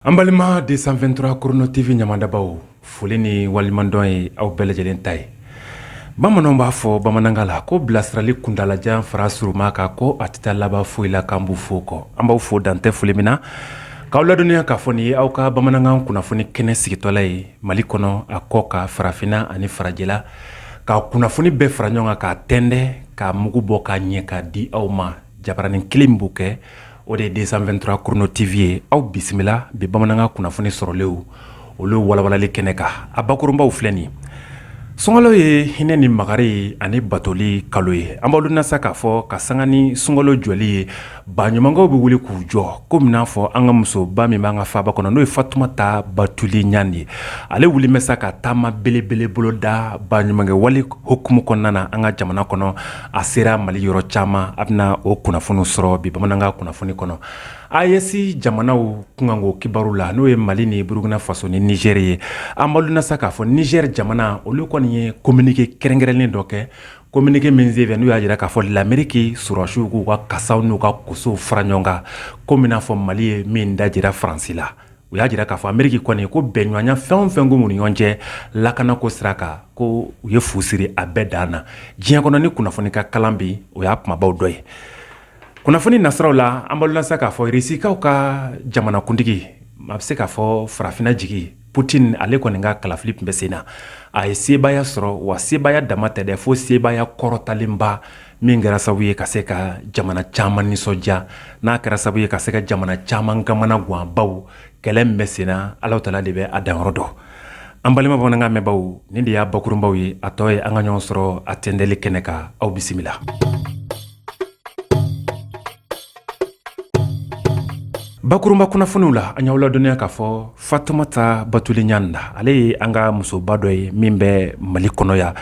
An balima deux cent vingt-trois Chrono TV ɲamamadabaw foli ni waleɲumandɔn ye aw bɛɛ lajɛlen ta ye bamananw b'a fɔ bamanankan la ko bilasirali kuntaalajan fara surunma kan ko a tɛ laban foyi la k'an b'u fo kɔ an b'aw fo dan tɛ foli min na k'aw ladɔnniya k'a fɔ nin ye aw ka bamanankan kunnafoni kɛnɛ sigitɔla ye mali kɔnɔ a kɔkan farafinna ani farajɛla ka kunnafoni bɛɛ fara ɲɔgɔn kan k'a tɛntɛ k'a mugu bɔ k'a ɲɛ k'a di aw ma Jabaranin kelen b'o kɛ o de ye deux cent vingt-trois Chrono TV ye aw bisimila bi bamanankan kunnafoni sɔrɔlenw olu walawalanli kɛnɛ kan a bakurunbaw filɛ nin sunkalo ye hinɛ ni makari ye ani batoli kalo ye an b'aw ladɔnniya sa k'a fɔ ka sanga ni sunkalo jɔli ye baɲumankɛw bɛ wuli k'u jɔ komi n'a fɔ an ka musoba min b'an ka faaba kɔnɔ n'o ye fatumata batuli ɲani ye ale wulilen bɛ sa ka taama belebele boloda baɲumankɛ wale hukumu kɔnɔna na an ka jamana kɔnɔ a sera mali yɔrɔ caman a bɛna o kunnafoni sɔrɔ bi bamanankan kunnafoni kɔnɔ AES jamanaw kunkanko kibaru la n'o ye mali ni burukina faso ni nizɛri ye an b'aw ladɔnniya sa k'a fɔ nizɛri jamana olu kɔni ye kominike kɛrɛnkɛrɛnnen dɔ kɛ kominike min sen fɛ n'u y'a jira k'a fɔ lameriki sɔrɔdasiw k'u ka kasaw n'u ka kosow fara ɲɔgɔn kan komi n'a fɔ mali ye min dajira faransi la u y'a jira k'a fɔ ameriki kɔni ko bɛnɲɔgɔnya fɛn o fɛn tun b'u ni ɲɔgɔn cɛ lakanako sira kan ko u ye fu siri a bɛɛ dan na diɲɛ kɔnɔ nin kunnafoni ka kalan bi o y'a kumabaw dɔ ye kunnafoni nasiraw la an b'aw ladɔnniya k'a fɔ irisikaw ka jamanakuntigi a bɛ se k'a fɔ farafinna jigi putini ale kɔni ka kalafili tun bɛ sen na a ye sebaaya sɔrɔ wa sebaaya dama tɛ dɛ fo sebaaya kɔrɔtalenba min kɛra sababu ye ka se ka jamana caman nisɔndiya n'a kɛra sababu ye ka se ka jamana caman kamanagan baw kɛlɛ min bɛ senna ala taala de bɛ a danyɔrɔ dɔn an balima bamanankan mɛnbaw nin de y'a bakurunbaw ye a tɔ ye an ka ɲɔgɔn sɔrɔ a tɛntɛli kɛnɛ kan aw bisimila bakurunba kunnafoniw la an y'aw ladɔnniya k'a fɔ fatumata batuli ɲani ale ye an ka musoba dɔ ye min bɛ mali kɔnɔ yan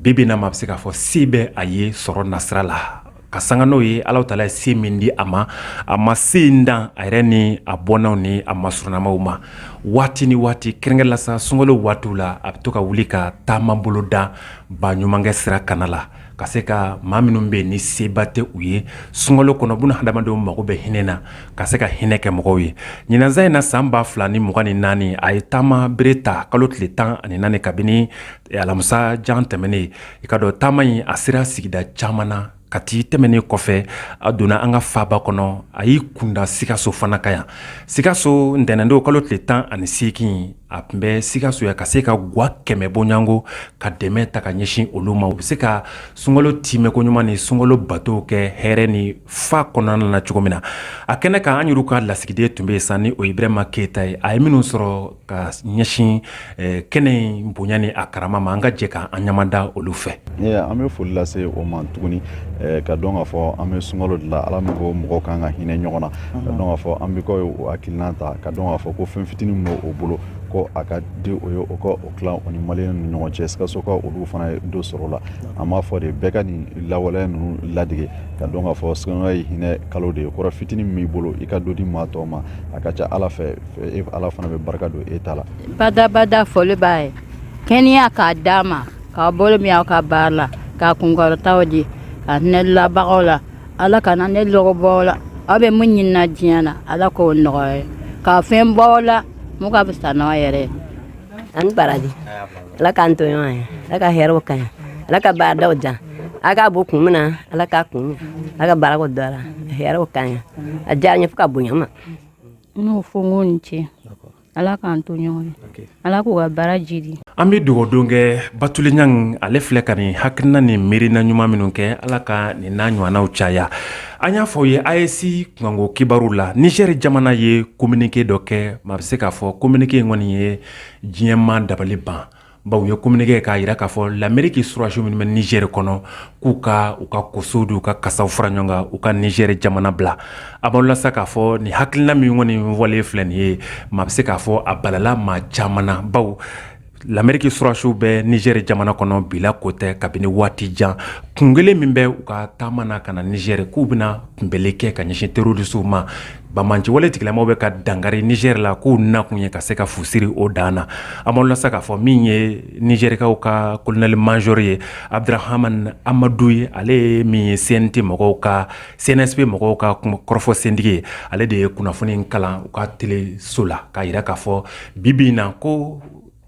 bi bi in na maa bɛ se k'a fɔ se bɛ a ye sɔrɔ nasira la ka sanga n'o ye ala taala ye se min di a ma a ma se in dan a yɛrɛ ni a bɔnnaw ni a masurunnamaw ma waati ni waati kɛrɛnkɛrɛnnenya la sa sunkalo waatiw la a bɛ to ka wuli ka taama boloda baɲumankɛ sira kana la ka se ka maa minnu bɛ yen ni seba tɛ u ye sunkalo kɔnɔ bɛna hadamadenw mago bɛ hinɛ na ka se ka hinɛ kɛ mɔgɔw ye ɲinan san in na san ba fila ni mugan ni naani a ye taama bere ta kalo tile tan ani naani kabini alamisa jan tɛmɛnen ye i k'a dɔn taama in a sera sigida caman na kati tɛmɛnen kɔfɛ a donna an ka faaba kɔnɔ a y'i kunda sikaso fana kan yan sikaso ntɛnɛndon kalo tile tan ani seegin a tun bɛ sikaso yan ka se ka gwa kɛmɛ bɔɲɔgɔnko ka dɛmɛ ta ka ɲɛsin olu ma u bɛ se ka sunkalo timɛ ko ɲuman ni sunkalo bato kɛ hɛrɛ ni fa kɔnɔna na cogo min na a kɛnɛ kan an yɛrɛ ka lasigiden tun bɛ yen sa ni o ye brɛma keyita ye a ye minnu sɔrɔ ka ɲɛsin kɛnɛ in bonya ni a karama ma an ka jɛ k'an ɲamada olu fɛ an bɛ foli lase o ma tuguni ka dɔn k'a fɔ an bɛ sunkalo de la ala min ko mɔgɔ ka kan ka hinɛ ɲɔgɔn na ka dɔn k'a fɔ an bɛ ka o hakilina ta ka dɔn k'a fɔ ko fɛn fitinin min b'o bolo ko a ka di o ye o ka o tilan o ni maliyɛn ni ɲɔgɔn cɛ sikaso ka olu fana ye dɔ sɔrɔ la an b'a fɔ de bɛɛ ka nin lawaleya ninnu ladege ka dɔn k'a fɔ sunkalo ye hinɛ kalo de ye kɔrɔ fitinin min b'i bolo i ka dɔ di maa tɔw ma a ka ca ala fɛ ala fana bɛ barika don e ta la badabada foli b'a ye kɛnɛya k'a d'a ma k'a bolo min aw ka baara la k'a kunkɔrɔtaw di ka hinɛ labagaw la ala kana ne lɔgɔ bɔ u la aw bɛ mun ɲinina diɲɛ na ala k'o nɔgɔya ka fɛn bɔ la mun ka fisa n'a yɛrɛ ani baraji ala k'an to ɲɔgɔn ye ala ka hɛrɛ k'a ɲɛ ala ka baaradaw jan a k'a bɔ kun min na ala k'a kun a ka barika don a la hɛrɛ k'a ɲɛ a diyara n ye fo ka bonya ma n y'o fɔ n k'u ni ce Ala k'an to ɲɔgɔn ala k'u ka baara jiidi an bɛ dugawu don kɛ batuli ɲani ale filɛ ka nin hakilina ni miirina ɲuman minnu kɛ ala ka nin n'a ɲɔgɔnnaw caya an y'a fɔ aw ye AES kunkanko kibaruw la nizeri jamana ye kominike dɔ kɛ maa bɛ se k'a fɔ kominike in kɔni ye diɲɛ maa dabali ban bawo u ye kominike k'a jira k'a fɔ lameriki sɔrɔdasiw minnu bɛ nizeri kɔnɔ k'u ka u ka kosow d'u ka kasaw fara ɲɔgɔn kan u ka nizeri jamana bila a b'aw la sa k'a fɔ nin hakilina min kɔni wale filɛ nin ye maa bɛ se k'a fɔ a balala maa caman na bawo lameriki sɔrɔdasiw bɛ nizeri jamana kɔnɔ bi la ko tɛ kabini waati jan kun kelen min bɛ u ka taama na ka na nizeri k'u bɛna kunbɛnni kɛ ka ɲɛsin terorisiw ma Banbaanci wale tigilamaw bɛ ka dankari nizeri la k'u nakun ye ka se ka fu siri o dan na a b'aw la sa k'a fɔ min ye nizerikaw ka kolonɛli mazore ye abudrahamani amadu ye ale ye min ye CNT mɔgɔw ka CNSP mɔgɔw ka kɔrɔfɔ sentigi ye ale de ye kunnafoni kalan u ka teleso la k'a jira k'a fɔ bibi in na ko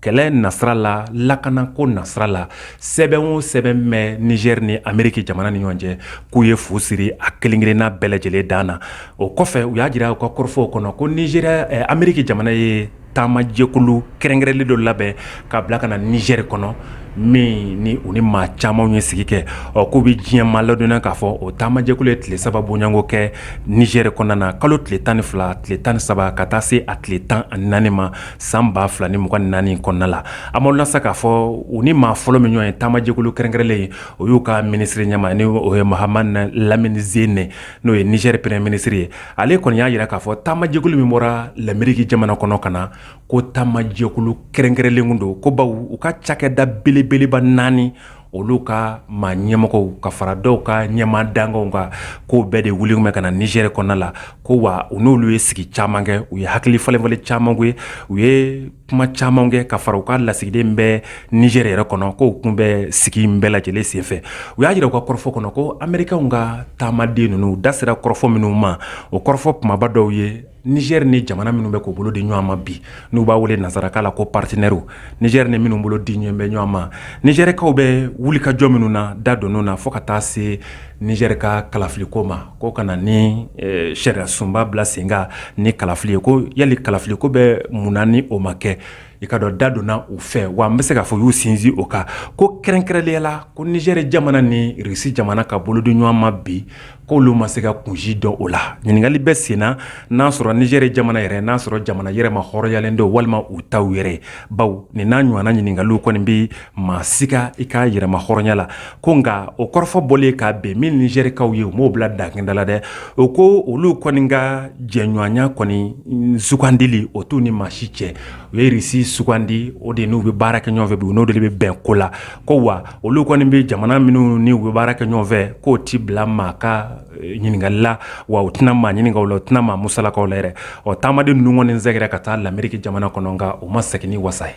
kɛlɛ nasira la lakanako nasira la sɛbɛn o sɛbɛn bɛ nizeri ni ameriki jamana ni ɲɔgɔn cɛ k'u ye fu siri a kelen-kelenna bɛɛ lajɛlen dan na o kɔfɛ u y'a jira u ka kɔrɔfɔw kɔnɔ ko ni eh, ameriki jamana ye taamajɛkulu kɛrɛnkɛrɛnnen dɔ labɛn ka bila ka na nizeri kɔnɔ min ni u ni maa caman ye sigi kɛ ɔ k'u bɛ diɲɛ maa ladɔnniya k'a fɔ o taamajɛkulu ye tile saba bɔɲɔgɔnko kɛ nizeri kɔnɔna na kalo tile tan ni fila tile tan ni saba ka taa se a tile tan ani naani ma san ba fila ni mugan ni naani kɔnɔna la an b'aw lasa k'a fɔ u ni maa fɔlɔ min ɲɔgɔn ye taamajɛkulu kɛrɛnkɛrɛnnen ye o y'u ka minisiri ɲɛmaa ni o ye mahamani lamini zene n'o ye nizɛri premier ministre ye ale kɔni y'a jira k'a fɔ taamajɛkulu min bɔra lameriki jamana kɔnɔ ka na ko taamajɛkulu kɛrɛnkɛrɛnnen don ko baw u ka cakɛda belebeleba naani olu ka maa ɲɛmɔgɔw ka fara dɔw ka ɲɛmaa dankanw kan k'o bɛɛ de wuli tun bɛ ka na nizɛri kɔnɔna la ko wa u n'olu ye sigi caman kɛ u ye hakili falenfalen caman kɛ u ye kuma caman kɛ ka fara u ka lasigiden bɛ nizɛri yɛrɛ kɔnɔ k'o tun bɛ sigi in bɛɛ lajɛlen senfɛ u y'a jira u ka kɔrɔfɔ kɔnɔ ko amerikɛnw ka taamaden ninnu da sera kɔrɔfɔ minnu ma o kɔrɔfɔ kumaba dɔw ye Niger ni jamana minnu bɛ k'u bolo di ɲɔgɔn ma bi n'u b'a wele nansarakan la ko partenaires nizɛri ni minnu bolo di ɲɔgɔn bɛ ɲɔgɔn ma nizɛrikaw bɛ wuli ka jɔ minnu na da donn'o na fo ka taa se nizɛri ka kalafiliko ma ko ka na ni sariya sunba bila sen kan ni kalafili ye ko yali kalafiliko bɛ mun na ni o ma kɛ i k'a dɔn da donna u fɛ wa an bɛ se k'a fɔ u y'u sinsin o kan ko kɛrɛnkɛrɛnnenya la ko nizɛri jamana ni risi jamana ka bolo di ɲɔgɔn ma bi Ko olu ma se ka kun si dɔn o la ɲininkali bɛ senna n'a sɔrɔ nizɛri jamana yɛrɛ n'a sɔrɔ jamana yɛrɛmahɔrɔnyalen don walima u ta yɛrɛ baw nin n'a ɲɔgɔnna ɲininkaliw kɔni bɛ maa siga i ka yɛrɛmahɔrɔnya la ko nka o kɔrɔfɔ bɔlen k'a bɛn min nizɛrikaw ye u m'o bila dakɛnda la dɛ o ko olu kɔni ka jɛɲɔgɔnya kɔni sugandili o t'u ni maa si cɛ u ye risi sugandi o de n'u bɛ baara kɛ ɲɔgɔnfɛ bi u n'o de bɛ bɛn ko la ko wa olu kɔni bɛ jamana minnu ni u bɛ baara kɛ ɲɔgɔn fɛ k'o tɛ bila maa ka ɲininkali la wa u tɛna maa ɲininka u la u tɛna maa musalaka u la yɛrɛ ɔ taamaden ninnu kɔni sɛgɛrɛ ka taa lameriki jamana kɔnɔ nka u ma segin ni wasa ye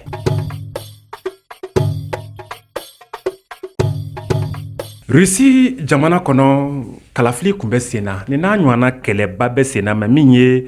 rusi jamana kɔnɔ kalafili tun bɛ sen na nin n'a ɲɔgɔnna kɛlɛba bɛ senna mɛ min ye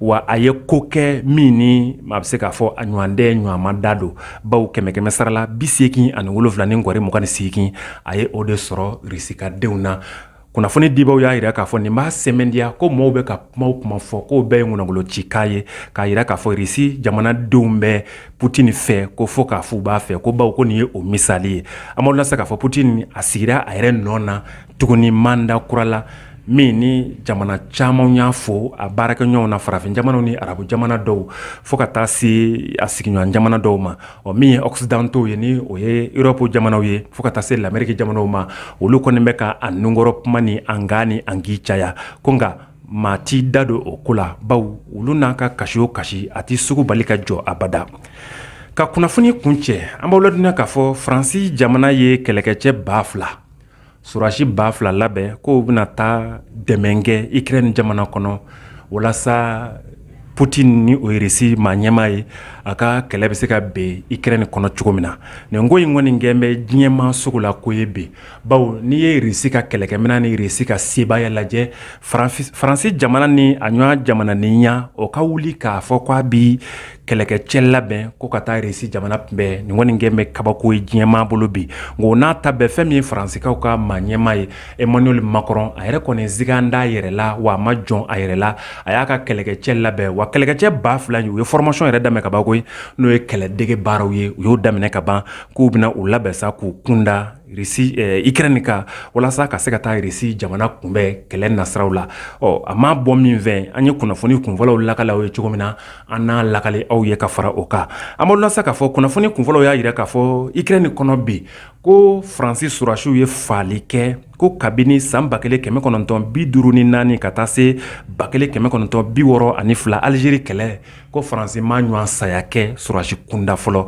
Wa a ye ko kɛ min ni maa bɛ se k'a fɔ a ɲɔgɔn tɛ ɲɔgɔnma da don baw kɛmɛ kɛmɛ sara la bi seegin ani wolofila ni nkɔri mugan ni seegin a ye o de sɔrɔ risi ka denw na kunnafoni dibaw y'a jira k'a fɔ nin b'a sɛmɛntiya ko maaw bɛ ka kuma kuma fɔ k'o bɛɛ ye kɔnɔbolo ci k'a ye k'a jira k'a fɔ risi jamanadenw bɛ putini fɛ ko fɔ k'a fɔ u b'a fɛ ko baw ko nin ye o misali ye an b'aw lase k'a fɔ putini a sigira a yɛrɛ nɔ na tuguni manda kura la min ni jamana caman y'a fɔ a baarakɛɲɔgɔnw na farafin jamana ni arabu jamana dɔw fo ka taa se a sigiɲɔgɔn jamana dɔw ma ɔ min ye occidentaux ye ni o ye Europe jamanaw ye fo ka taa se l'Amérique jamanaw ma olu kɔni bɛ ka a nunkɔrɔ kuma ni an kan ni an k caya ko nka maa t'i da don o ko la baw olu n'a ka kasi o kasi a tɛ sugu bali ka jɔ abada ka kunnafoni kuncɛ an b'aw ladɔnniya k'a fɔ faransi jamana ye kɛlɛkɛcɛ ba fila sɔrɔdasi ba fila labɛn k'o bɛna taa dɛmɛ kɛ Ukraine jamana kɔnɔ walasa Poutine ni o ye Russie maa ɲɛmaa ye a ka kɛlɛ bɛ se ka bin Ukraine kɔnɔ cogo min na nin ko in kɔni kɛn bɛ diɲɛmaa sugu la ko ye bi bawo n'i ye Russie ka kɛlɛkɛminɛn ni Russie ka sebaaya lajɛ faransi jamana ni a ɲɔgɔn jamana ni ɲɛ o ka wuli k'a fɔ k'a bɛ kɛlɛkɛcɛ labɛn ko ka taa Russie jamana kunbɛn nin kɔni kɛn bɛ kabako ye diɲɛmaa bolo bi nka o n'a ta bɛɛ fɛn min ye faransikaw ka maa ɲɛmaa ye Emmanuel Macron a yɛrɛ kɔni siga t'a yɛrɛ la wa a ma jɔn a yɛrɛ la a y'a ka kɛlɛkɛcɛ labɛn wa kɛlɛkɛcɛ ba fila ye u ye formation yɛrɛ daminɛ ka ban koyi n'o ye kɛlɛdege baaraw ye u y'o daminɛ ka ban k'u bɛna u labɛn sa k'u kunda Ukraine kan walasa ka se ka taa Russie jamana kunbɛn kɛlɛ nasiraw la ɔ a ma bɔ min fɛ an ye kunnafoni kunfɔlɔw lakale aw ye cogo min na an n'a lakale aw ye ka fara o kan an b'a lase k'a fɔ kunnafoni kunfɔlɔw y'a jira k'a fɔ Ukraine kɔnɔ bi ko faransi sɔrɔdasiw ye fagali kɛ ko kabini san ba kelen kɛmɛ kɔnɔntɔn bi duuru ni naani ka taa se ba kelen kɛmɛ kɔnɔntɔn bi wɔɔrɔ ani fila alizeri kɛlɛ ko faransi m'a ɲɔgɔn saya kɛ sɔrɔdasi kunda fɔlɔ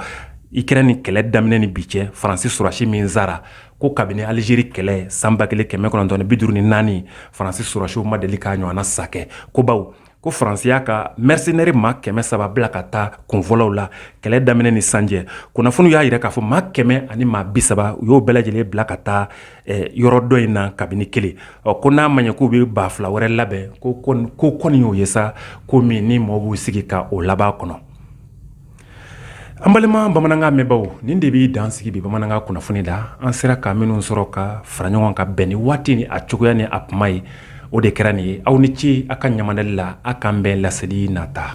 Ukraine kɛlɛ daminɛ ni bi cɛ faransi sɔrɔdasi min sara ko kabini alizeri kɛlɛ san ba kelen kɛmɛ kɔnɔntɔn bi duuru ni naani faransi sɔrɔdasiw ma deli k'a ɲɔgɔn sa ko baw ko faransi y'a ka mercenaire maa kɛmɛ saba bila ka taa kunfɔlɔw la kɛlɛ daminɛ ni sisan cɛ kunnafoniw y'a jira k'a fɔ maa kɛmɛ ani maa bi saba u y'o bɛɛ lajɛlen bila ka taa yɔrɔ dɔ in na kabini kelen ɔ ko n'a ma ɲɛ k'u bɛ ba fila wɛrɛ labɛn ko kɔni y'o ye sa ko min ni mɔgɔw b'u sigi ka o laban kɔnɔ an balima bamanankan mɛnbaw nin de b'i dan sigi bi bamanankan kunnafoni la an sera ka minnu sɔrɔ ka fara ɲɔgɔn ka bɛn ni waati ni a cogoya ni a kuma ye o de kɛra nin ye aw ni ce aw ka ɲamadali la aw k'an bɛn laseli nata